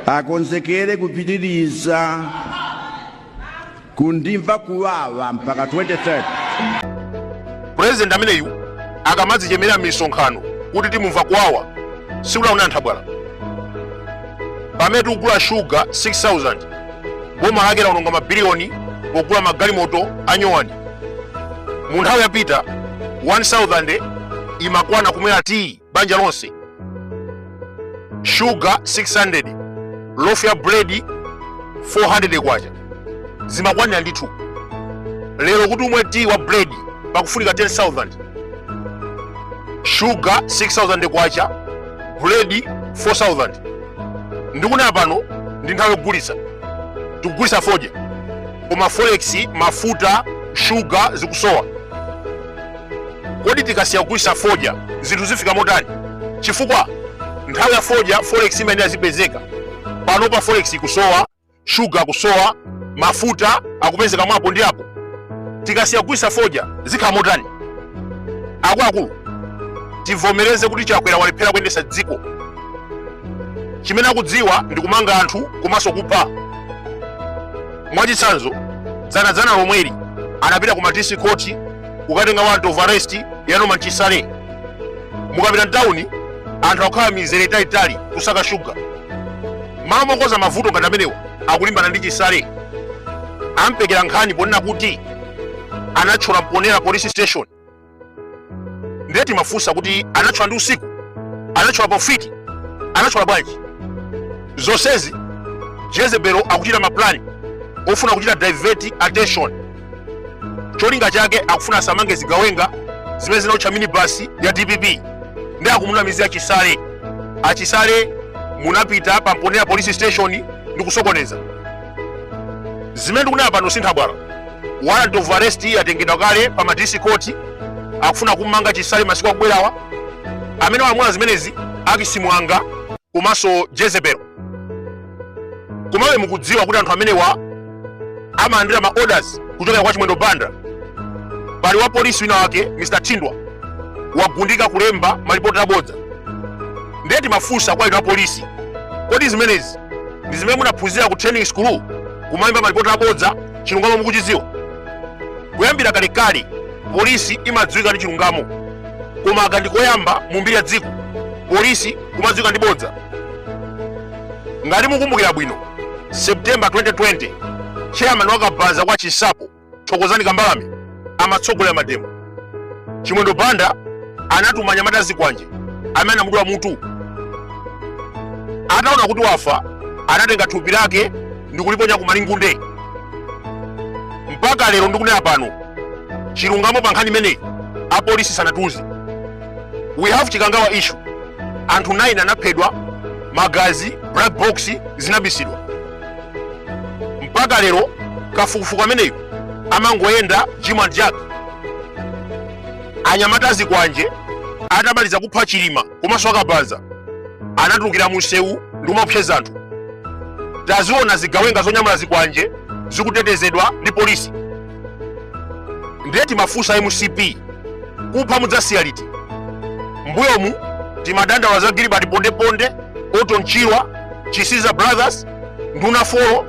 akonzekere kupitiriza kundimva kuwawa mpaka 2030 pulezidenti ameneyu akamadzichemerera m'misonkhano kuti timumva kuwawa sikunali nthabwala pamene tikugula shuga 6000 boma lake likuononga mabiliyoni pogula magalimoto anyowani mu nthawi yapita 1000 imakwana kumwera tiyi banja lonse shuga 600 lofu ya buledi 400 kwacha zimakwanira ndithu lero kuti umwe tiyi wa buledi pakufunika 10000 shuga 6000 kwacha buledi 4000 ndikunena pano ndi nthawi yogulitsa tikugulitsa fodya koma forex mafuta shuga zikusowa kodi tikasiya kugulisa fodya zinthu zifika motani chifukwa nthawi ya fodya forex imayenera zipezeka pano pano forex ikusowa shuga akusowa mafuta akupezeka mwapo ndi apo tikasiya kugulisa fodya zikhala motani akuluakulu tivomereze kuti chakwera walephera kuyendesa dziko chimene akudziwa ndi kumanga anthu komanso kupha mwachitsanzo dzanadzana lomweli anapita ku madisi khoti kukatenga warrant of arrest ya norman chisale mukapita mtawuni anthu akukhala mizere italitali kusaka shuga malo mokonza mavuto ngati amenewa akulimbana ndi chisale ampekera nkhani ponena kuti anatchola mponera police station ndiye timafunsa kuti anatchola ndi usiku anatchola pofiti anatchola bwanji zonsezi jezebelo akuchita maplani ofuna kuchita divert attention cholinga chake akufuna asamange zigawenga zimene zinaotcha minibasi ya dpp nde akumunamizira chisale achisale munapita pa mponera police station ndi kusokoneza zimene ndikunena pano si nthabwala warrant of arrest yatengedwa kale pa madisi court akufuna kummanga chisale masiku akubwerawa amene walamula zimenezi akisimwanga komanso jezebel komabe mukudziwa kuti anthu amenewa amalandira ma orders kuchokera kwa chimwendo banda pali wa polisi wina wake mr thindwa wagundika kulemba malipoti abodza ndiye timafunsa kwa inu a polisi kodi zimenezi ndi zimene munaphunzira ku training school kumalemba malipoti abodza chilungamo mukuchidziwa kuyambira kalekale polisi imadziwika ndi chilungamo koma aka ndikoyamba mu mbiri ya dziko polisi kumadziwika ndi bodza ngati mukumbukira bwino september 2020 chairman wa kabanza kwa chinsapo thokozani kambalame amatsogolera mademo chimwendo banda anatuma anyamata azikwanje amene anamudula mutu ataona kuti wafa anatenga thupi lake ndikuliponya ku malingunde mpaka lero ndikunena pano chilungamo pa nkhani imeneyi apolisi sanatiuze we have chikangawa issue anthu 9 anaphedwa magazi black box zinabisidwa mpaka lero kafukufuku ameneyu amangoyenda jim and jack anyamata azikwanje atamaliza kupha chilima komanso akabanza anatulukira munsewu ndi kumaopseza anthu taziona zigawenga zonyamula zikwanje zikutetezedwa ndi polisi ndiye timafunsa mcp kupha mudzasiya liti mbuyomu timadandaula za gilbert pondeponde orton chirwa chisiza brothers nduna folo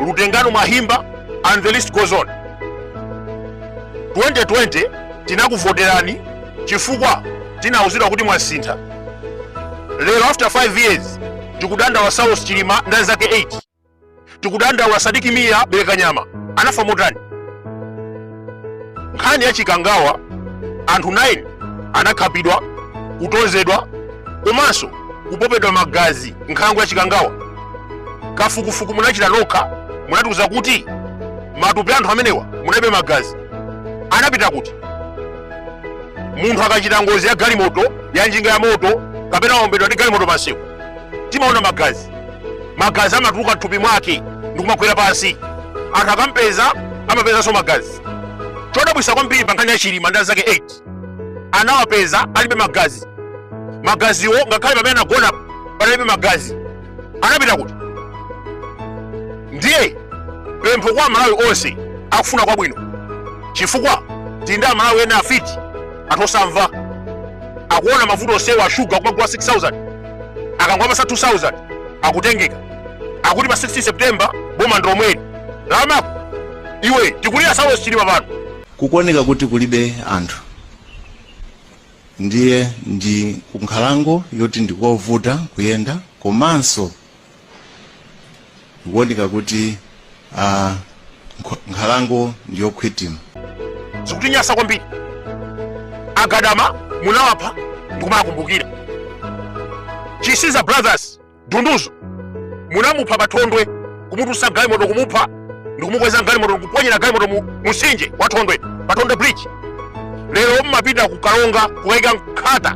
lutengano mwahimba and the list goes on 2020 tinakuvoterani chifukwa tinauzidwa kuti mwasintha lero after 5 years tikudandaula saulos chilima ndi anzake 8 tikudandaula sidik mia belekanyama anafa motani nkhani ya chikangawa anthu 9 anakhapidwa kutonzedwa komanso kupopedwa magazi m'nkhalango ya chikangawa kafukufuku munachita nokha munatiuza kuti m'matupi a anthu amenewa munaibe magazi anapita kuti munthu akachita ngozi ya galimoto ya njinga ya moto kapena waombedwa ndi galimoto pansewu timaona magazi magazi amatuluka mthupi mwake ndikumagwera pansi anthu akampeza amapezanso magazi chodabwisa kwambiri pa nkhani ya chilima ndi anzake 8 anawapeza alibe magazi magaziwo ngakhale pamene anagona panalibe magazi anapita kuti ndiye pempho kwa amalawi onse akufuna kwabwino chifukwa tili ndi amalawi ena afiti anthu osamva akuona mavuto onsewa a shuga kumagula 6000 akangwapasa 2000 akutengeka akuti pa 16 september boma ndi lomweli la amako iwe tikulira saulos chilima pano kukuoneka kuti kulibe anthu ndiye ndi kunkhalango yoti ndikovuta kuyenda komanso zikuoneka kuti ah, nkho- nkhalango ndi yokhwitima zikutinyasa kwambiri agadama munawapha ndikumakumbukira chisiza brothers dunduzo munamupha pathondwe kumutsitsa mgalimoto kumupha ndikumukweza galimoto ndikuponyera galimoto mu mtsinje wa thondwe pathondwe bridge lero mumapita ku karonga kukayika nkhata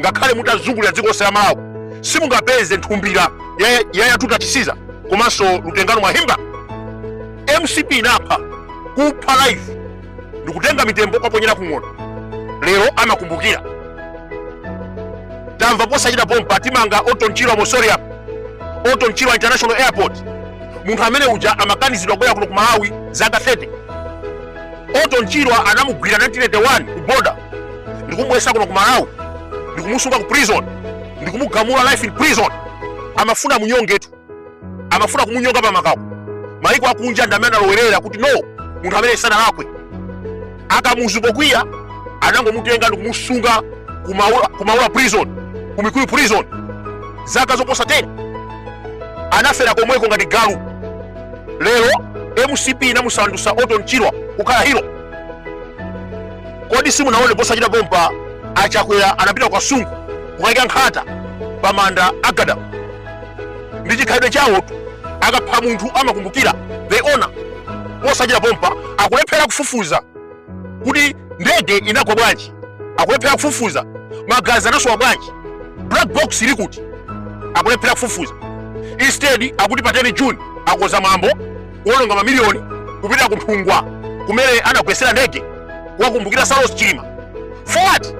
ngakhale mutazungulira dziko lonse la malawi simungapeze nthumbira ya- ya yatuta chisiza komanso Lutengano Mwahimba mcp inapha kupha life ndikutenga mitembo kuwaponyera kung'ona lero amakumbukira tamva posachita pompa timange Orton Chirwa mausoleum Orton Chirwa international airport munthu amene uja amakanizidwa kubwera kuno ku malawi zaka 30 Orton Chirwa anamugwira 1981 ku boda ndikumubwesa kuno ku malawi ndikumusunga ku prison ndikumugamula life in prison amafuna munyongetu amafuna kumunyonga pamapeto maiko akunja ndi amene analowerera kuti no munthu amene sanalakwe akamuzu pokwiya anangomutenga ndikumusunga ku Maula- ku maula prison ku mikuyu prison zaka zoposa 10 anafera komweko ngati galu lero mcp inamusandusa Orton Chirwa kukhala hero kodi simunaone posachita pompa achakwera anapita ku Kasungu kukaika nkhata pa manda a Gadama ndi chikhalidwe chawotu akapha munthu amakumbukira they honor posachita pompa akulephera kufufuza kuti ndege inagwa bwanji akulephera kufufuza magazi anasowa bwanji black box ili kuti akulephera kufufuza instead akuti pa 10 june akonza mwambo kuononga mamiliyoni kupita ku nthungwa kumene anagwesera ndege kukumbukira saulos chilima for what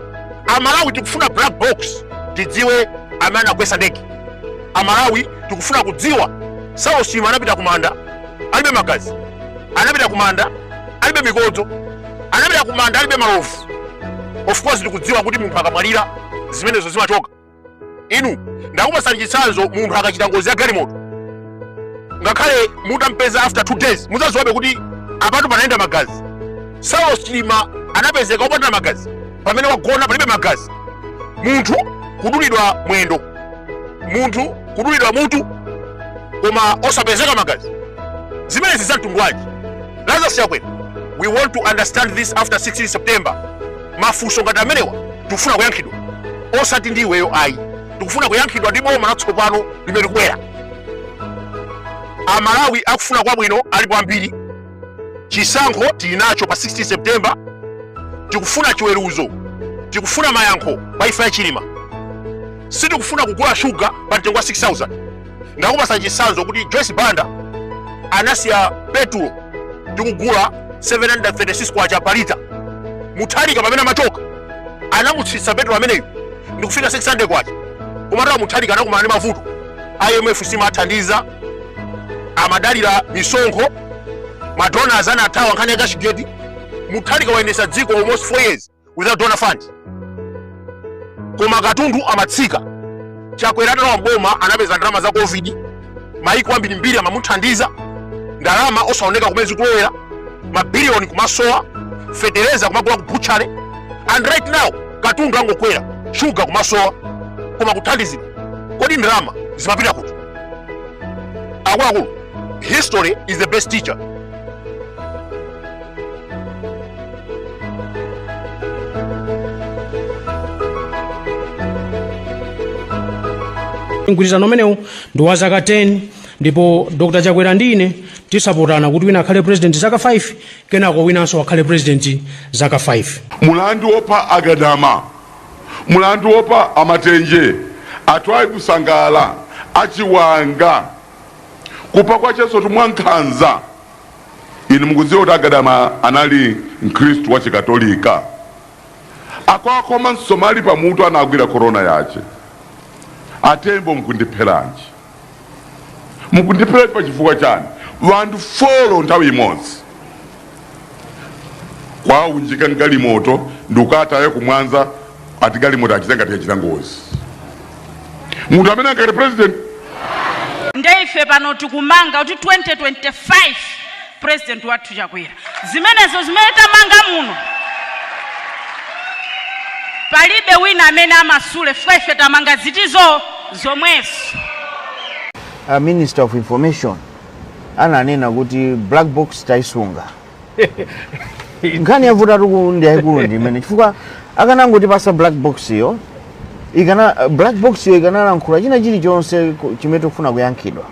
amalawi tikufuna black box tidziwe amene anagwesa ndege amalawi tikufuna kudziwa saulos chilima anapita kumanda alibe magazi anapita kumanda alibe mikodzo anapita kumanda alibe malovu of course tikudziwa kuti munthu akamwalira zimenezo zimachoka inu ndakupasani chitsanzo munthu akachita ngozi ya galimoto ngakhale mutampeza after two days mudzadziwabe kuti apatu panayenda magazi saulos chilima anapezeka opanda magazi pamene anagona palibe magazi munthu kudulidwa mwendo munthu kudulidwa mutu koma osapezeka magazi zimenezi za mtundu wanji lazarus chakwera we want to understand this after 16 september mafunso ngati amenewa tikufuna kuyankhidwa osati ndi iweyo ayi tikufuna kuyankhidwa ndi boma latsopano limene likubwera amalawi akufuna kwabwino alipo ambiri chisankho tili nacho pa 16 september tikufuna chiweruzo tikufuna mayankho pa imfa ya chilima sitikufuna kugula shuga pa mtengo wa 6000 ndakupasa chisanzo kuti joyce banda anasiya petulo tikugula 736 kwacha pa lita muthalika pamene amachoka anamutsitsa petulo ameneyu ndikufika 600 kwacha komatu awa muthalika anakumana ndi mavuto imf simathandiza amadalira misonkho madonors anathawa nkhani ya cashgate muthalika wayendesa dziko almost 4 years without donor fund koma katundu amatsika Chakwera atalowa m'boma anapeza ndalama za covid maiko ambirimbiri amamuthandiza ndalama osaoneka kumene zikulowera mabiliyoni kumasowa fetereza kumagula ku butchala and right now katundu angokwera shuga kumasowa koma kuthandizidwa kodi ndalama zimapita kuti akuluakulu history is the best teacher mgwirizano umenewu ndi wa zaka 10 ndipo dr chakwera ndi ine tisapatana kuti wina akhale president zaka 5 kenako winanso akhale president zaka 5 mulandu wopa agadama mulandu wopa amatenje atwaibu sangala achiwanga kupa kwachesotu mwankhanza Inu mukudziwa kuti a Gadama anali mkhristu wa chikatolika? Akuwakhoma msomali pa mutu anagwira korona yache. A Tembo mkundipheranji? Mkundipheranji pa chifukwa chani? Wanthu folo nthawi imodzi. Kuwaunjika mgalimoto ndikukawataya kumwanza ati galimoto achita ngati yachita ngozi munthu amene ankati president nde ife pano tikumanga kuti 2025 president wathu chakwera zimenezo zimene tamanga muno palibe wina amene amasule chifukwa ife tamanga zithu zomwezo a minister of information ananena kuti black box taisunga nkhani yavutatu akulu ndi yayikulu ndi imene chifukwa akanangotipasa black box yo ikana black box yo ikanalankhula china chilichonse ku- chimene tikufuna kuyankhidwa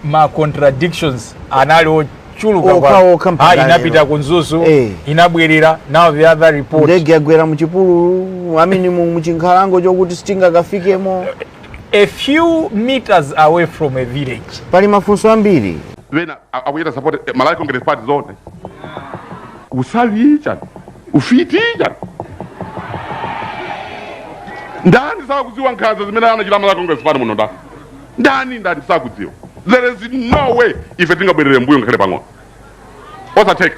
ma contradictions anali ochuluka Okha, kwa- okha mpaka Ah, lero. inapita ku mzuzu Eh. inabwerera now the other report ndege yagwera muchipululu I mean mu- mchinkhalango chokuti sitingakafikemo A few meters away from a village. Pali mafunso ambiri. Wina akuchita support eh, Malawi Congress Party zone. Ufiti chani? Ufiti chani? Ndani sakudziwa nkhanza zimene anachita Malawi Congress Party muno ndani? Ndani ndani sakudziwa? There is no way ife tingabwerere mbuyo ngakhale pang'ono. Osatheka.